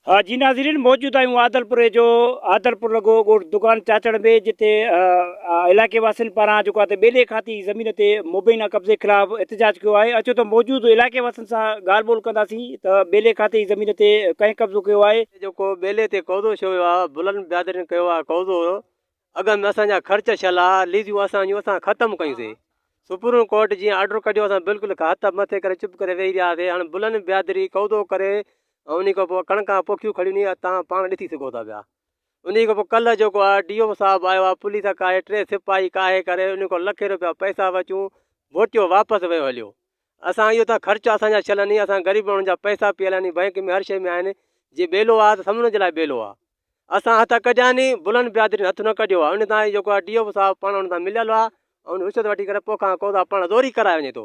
ها جي ناظرين موجود آهيون عادلپوري جو عادلپور لڳو ڳوٺ دڪان چاچڙ ۾ جتي علائقي واسين پاران جيڪو آهي ٻيلي کاتي زمين تي مبينا قبضي خلاف احتجاج ڪيو آهي اچو ته موجود علائقي واسين سان ڳالهه ٻولهه ڪنداسين ته ٻيلي کاتي زمين تي ڪنهن قبضو ڪيو آهي. جيڪو ٻيلي تي قبضو ڇو ويو آهي بلند بيادرين ڪيو آهي قبضو اڳ ۾ اسان جا خرچ شلا ليزون اسان جون اسان ختم ڪيون سي سپريم ڪورٽ جي آرڊر ڪڍيو اسان بالڪل هٿ مٿي ڪري چپ ڪري ويهي رهياسي هاڻ بلن بيادري قوضو ڪري ان کان پوء ڪڻڪا پوکيون کڙيون ني تان پاڻ ڏسي سگهو ٿا پيا ان کان پوء ڪل جيڪو آ ڊي او صاحب آيو آ پوليس ڪاهي ٽي سپاهي ڪاهي ڪري ان کان لکين روپيا پئسا وچون ووٽيو واپس ويو هليو اسان اهو ته خرچ اسان جا شل ني اسان غريب ماڻهن جا پئسا پيل آهن بئنڪ ۾ هر شيء ۾ آهن جي ٻيلو آ ته سمجهڻ جي لاء ٻيلو آ اسان هٿ ڪڍيا ني بلند بيادرين هٿ نه ڪڍيو آ ان تان هي جيڪو آ ڊي او صاحب پاڻ ان تان مليل آ ان رشوت وٺي ڪري پو کان قوضا پاڻ زوري ڪرائي وڃي ٿو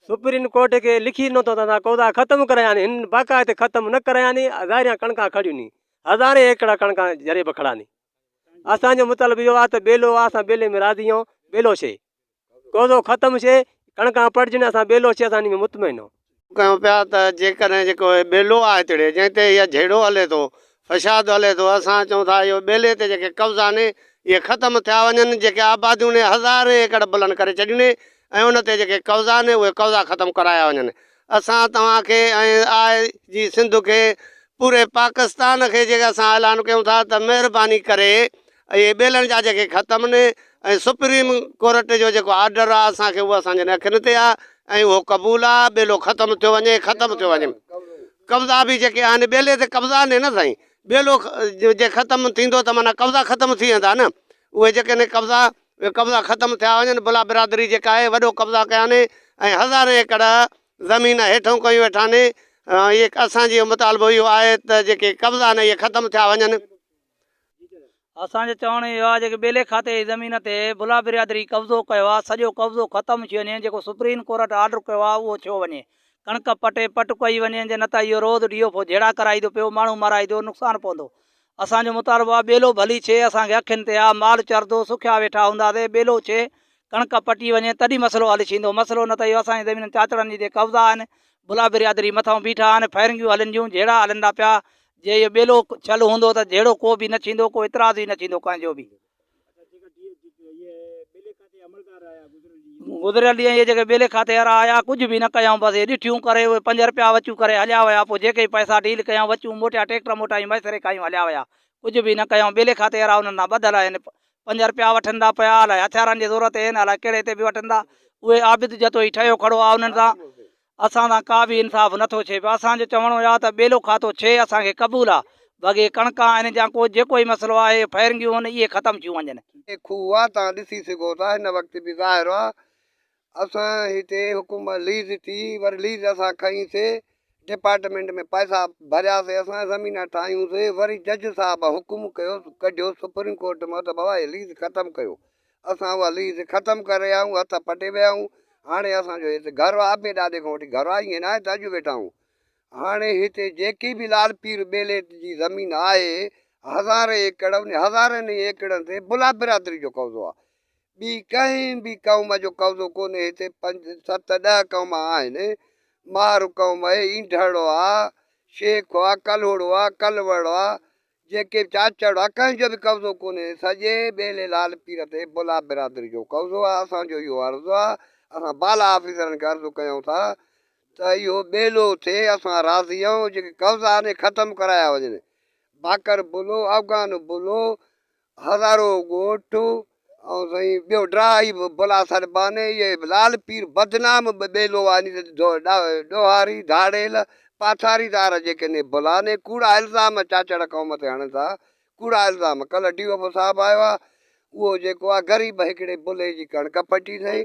سپريم ڪورٽ کي لکي ڏنو ته اسان قوضا ختم ڪرايا ني هن باقاعده ختم نه ڪرايا ني ظاهريان ڪڻڪا کڙيون ني هزارين ايڪڙا ڪڻڪا جريب کڙا ني اسان جو مطلب اهو آ ته ٻيلو آ اسان ٻيلي ۾ راضي آهيون ٻيلو شي ڪوزو ختم شي ڪڻڪان پڙجن اسان ٻيلو شي اسان انهي ۾ مطمئن هون. ڪيون پيا ته جيڪڏهن جيڪو هي ٻيلو آهي تڙي جنهن تي اهي جهيڙو هلي ٿو فشاد هلي ٿو اسان چئون ٿا اهي ٻيلي تي جيڪي قبضا آهن اهي ختم ٿيا وڃن جيڪي آباديون ني هزارين ايڪڙ بلند ڪري ڇڏيون ني ۽ ان تي جيڪي قبضا آهن اهي قبضا ختم ڪرايا وڃن اسان توهان کي ۽ آء جي سنڌ کي پوري پاڪستان کي جيڪي اسان اعلان ڪيون ٿا ته مهرباني ڪري اهي ٻيلڻ جا جيڪي ختم ني ۽ سپريم ڪورٽ جو جيڪو آرڊر آ اسان کي اهو اسان جن اکين تي آ ۽ اهو قبول آ ٻيلو ختم ٿيو وڃي ختم ٿيو وڃي قبضا به جيڪي آهن ٻيلي تي قبضا ني نه سائين ٻيلو جي ختم ٿيندو ته معنيٰ قبضا ختم ٿي ويندا نه اهي جيڪي ني قبضا اهي قبضا ختم ٿيا وڃن، بلا برادري جيڪا آهي وڏو قبضا ڪيا آهن ۽ هزارين ايڪڙ زمين هيٺون ڪيون ويٺا آهن، اهي اسان جي مطالبو اهو آهي ته جيڪي قبضا آهن اهي ختم ٿيا وڃن. اسان جو چوڻ اهو آهي جيڪي ٻيلي کاتي جي زمين تي بلا برادري قبضو ڪيو آهي سڄو قبضو ختم ٿي وڃي، جيڪو سپريم ڪورٽ آرڊر ڪيو آهي اهو ٿيو وڃي، ڪڻڪ پٽي پٽ ڪئي وڃي جي نه ته اهو روز ڊي ايف او جهيڙا ڪرائيندو پيو، ماڻهو مارائيندو، نقصان پوندو، اسان جو مطالبو آ ٻيلو ڀلي ڇي اسان کي اکين تي آ مال چردو سکيا ويٺا هوندا سي ٻيلو ڇي ڪڻڪ پٽي وڃي تڏي مسئلو حل ڇيندو مسئلو نه ته اهو اسان جي زمينن چاچڙن جي تي قبضا آهن بلا بريادري مٿاهون بيٺا آهن فائرنگيون هلن جون جهيڙا هلن ٿا پيا جي اهو ٻيلو ڇل هوندو ته جهيڙو ڪو به نه ڇيندو ڪو اعتراض ئي نه ڇيندو ڪنهن جو به گذريل ڏينهن اهي جيڪي ٻيلي کاتي وارا آيا ڪجهه به نه ڪيائون بس اهي ڏٺيون ڪري اهي پنج رپيا وچون ڪري هليا ويا پوء جيڪي پئسا ڊيل ڪيائون وچون موٽيا ٽيڪٽر موٽائي ميسري کائيون هليا ويا ڪجهه به نه ڪيائون ٻيلي کاتي وارا انهن سان ٻڌل آهن پنج رپيا وٺن ٿا پيا الاء هٿيارن جي زور تي آهن الاء ڪهڙي تي به وٺن ٿا اهي عابد جتوئي ٺهيو کڙو آ انهن سان اسان سان ڪا به انصاف نٿو ڇي پيو اسان جو چوڻ اهو آ ته ٻيلو کاتو ڇي اسان کي قبول آ بگي ڪڻڪا آهن جا ڪو جيڪو ئي مسئلو آهي اهي فئرنگيون هن اهي ختم ٿيون وڃن. هتي کوهه آ توهان ڏسي سگهو ٿا هن وقت به ظاهر آ اسان هتي حڪومت ليز ٿي وري ليز اسان کنئي سي ڊپارٽمينٽ ۾ پئسا ڀريا سي اسان زمينا ٺاهيون سي وري جج صاحب حڪم ڪيو ڪڍيو سپريم ڪورٽ مان ته بابا هي ليز ختم ڪيو اسان اها ليز ختم ڪري رهيا آهيون، هٿ پٽي ويا آهيون، هاڻي اسان جو هت گهر آهي، ابي ڏاڏي کان وٺي گهر آهي، ائين ناهي ته اڄ ويٺا آهيون. هاڻي هتي جيڪي به لال پير ٻيلي جي زمين آهي، هزارين ايڪڙ، انهن هزارين ئي ايڪڙن تي بلا برادري جو قبضو آهي. ٻي ڪنهن به قوم جو قبضو ڪونهي، هتي پنج، ست، ڏهه قوم آهن، مهر قوم آهي، اينڊهڙو آهي، شيخ آهي، ڪلهوڙو آهي، ڪلوڙ آهي، جيڪي چاچڙ آ ڪنهن جو به قبضو ڪونهي سڄي ٻيلي لال پير تي بلا برادري جو قبضو آ اسان جو اهو عرض آ اسان بالا آفيسرن کي عرض ڪيون ٿا ته اهو ٻيلو ٿئي اسان راضي آهيون جيڪي قبضا آهن اهي ختم ڪرايا وڃن باقر بلو افغان بلو هزارو ڳوٺ ۽ سائين ٻيو ڊاهي به بلا سر باني اهي لال پير بدنام به ٻيلو آني ڏوهاري ڌاڙيل پاٿاري دار جيڪي ني بلا ني ڪوڙا الزام چاچڙ قوم تي هڻن ٿا ڪوڙا الزام ڪل ڊي او پي صاحب آيو آ اهو جيڪو آ غريب هڪڙي بلي جي ڪڻڪ پٽي سائين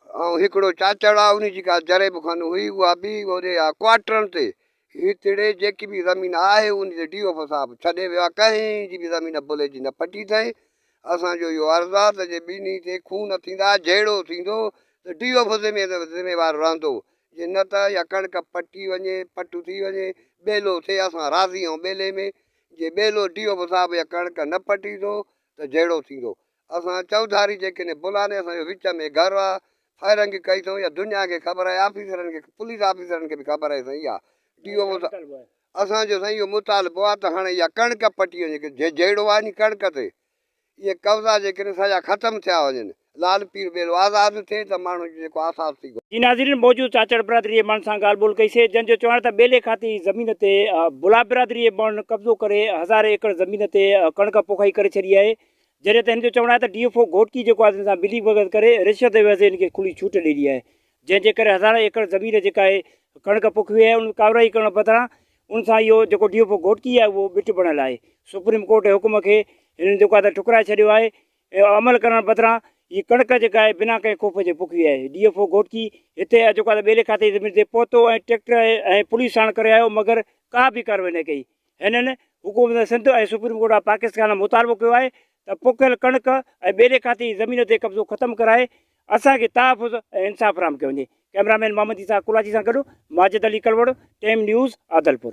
۽ هڪڙو چاچڙ آ انهي جي ڪا جريب خانه هئي اها به هوري آ ڪواٽرن تي هي تڙي جيڪي به زمين آهي ان تي ڊي اوف صاحب ڇڏي ويو آهي ڪنهن جي به زمين بلي جي نه پٽي اٿئي اسان جو اهو عرض آهي ته جي ٻنهي تي خون ٿيندا جهيڙو ٿيندو ته ڊي اوف ذميوار رهندو جي نه ته اها ڪڻڪ پٽي وڃي پٽ ٿي وڃي ٻيلو ٿئي اسان راضي آهيون ٻيلي ۾ جي ٻيلو ڊي اوف صاحب اها ڪڻڪ نه پٽي ٿو ته جهيڙو ٿيندو اسان چوڌاري جيڪڏهن بلاني اسان جو وچ ۾ گهر آ فائرنگ ڪئي اٿئون يا دنيا کي خبر آهي آفيسرن کي پوليس آفيسرن کي به خبر آهي سائين يا ڊي او اسان جو سائين اهو مطالبو آ ته هاڻي اها ڪڻڪ پٽي وڃي ڪي جي جهيڙو آهي ني ڪڻڪ تي اهي قبضا جيڪڏهن سڄا ختم ٿيا وڃن لال پير ٻيلو آزاد ٿئي ته ماڻهن جو جيڪو آساس ٿي جي ناظرين موجود چاچڙ برادري جي ماڻهن سان ڳالهه ٻولهه ڪئي سي جنهن جو چوڻ آهي ته ٻيلي کاتي جي زمين تي بلا برادري جي ماڻهن قبضو ڪري هزارين ايڪڙ زمين تي ڪڻڪ پوکائي ڪري ڇڏي آهي جڏهن ته هن جو چوڻ آهي ته ڊي ايف او گهوٽڪي جيڪو آهي تن سان ملي ڀڳت ڪري رشوت جي عوض هن کي کلي ڇوٽ ڏئي ڏني آهي جنهن جي ڪري هزارين ايڪڙ زمين جيڪا آهي ڪڻڪ پوکي وئي آهي ان ڪاروائي ڪرڻ بدران ان سان اهو جيڪو ڊي ايف او گهوٽڪي آهي اهو ٻٽ بڻيل آهي سپريم ڪورٽ جي حڪم کي هنن جيڪو آهي ٺڪرائي ڇڏيو آهي عمل ڪرڻ بدران هي ڪڻڪ جيڪا آهي بنا ڪنهن خوف جي پوکي وئي آهي ڊي ايف او گهوٽڪي هتي جيڪو آهي ٻيلي کاتي زمين تي پهتو ۽ ٽريڪٽر ۽ پوليس ساڻ ڪري آيو مگر ڪا به ڪاروائي نه ڪئي هنن حڪومت Sindh ۽ supreme court of Pakistan کان مطالبو ڪيو آهي ته پوکيل ڪڻڪ ۽ ٻيلي کاتي جي زمين تي قبضو ختم ڪرائي اسان کي تحفظ ۽ انصاف فراهم ڪيو وڃي ڪئميرا مين محمد عيسيٰ ڪولاچي سان گڏ ماجد علي ڪلوڙ، ٽيم نيوز، عادلپور.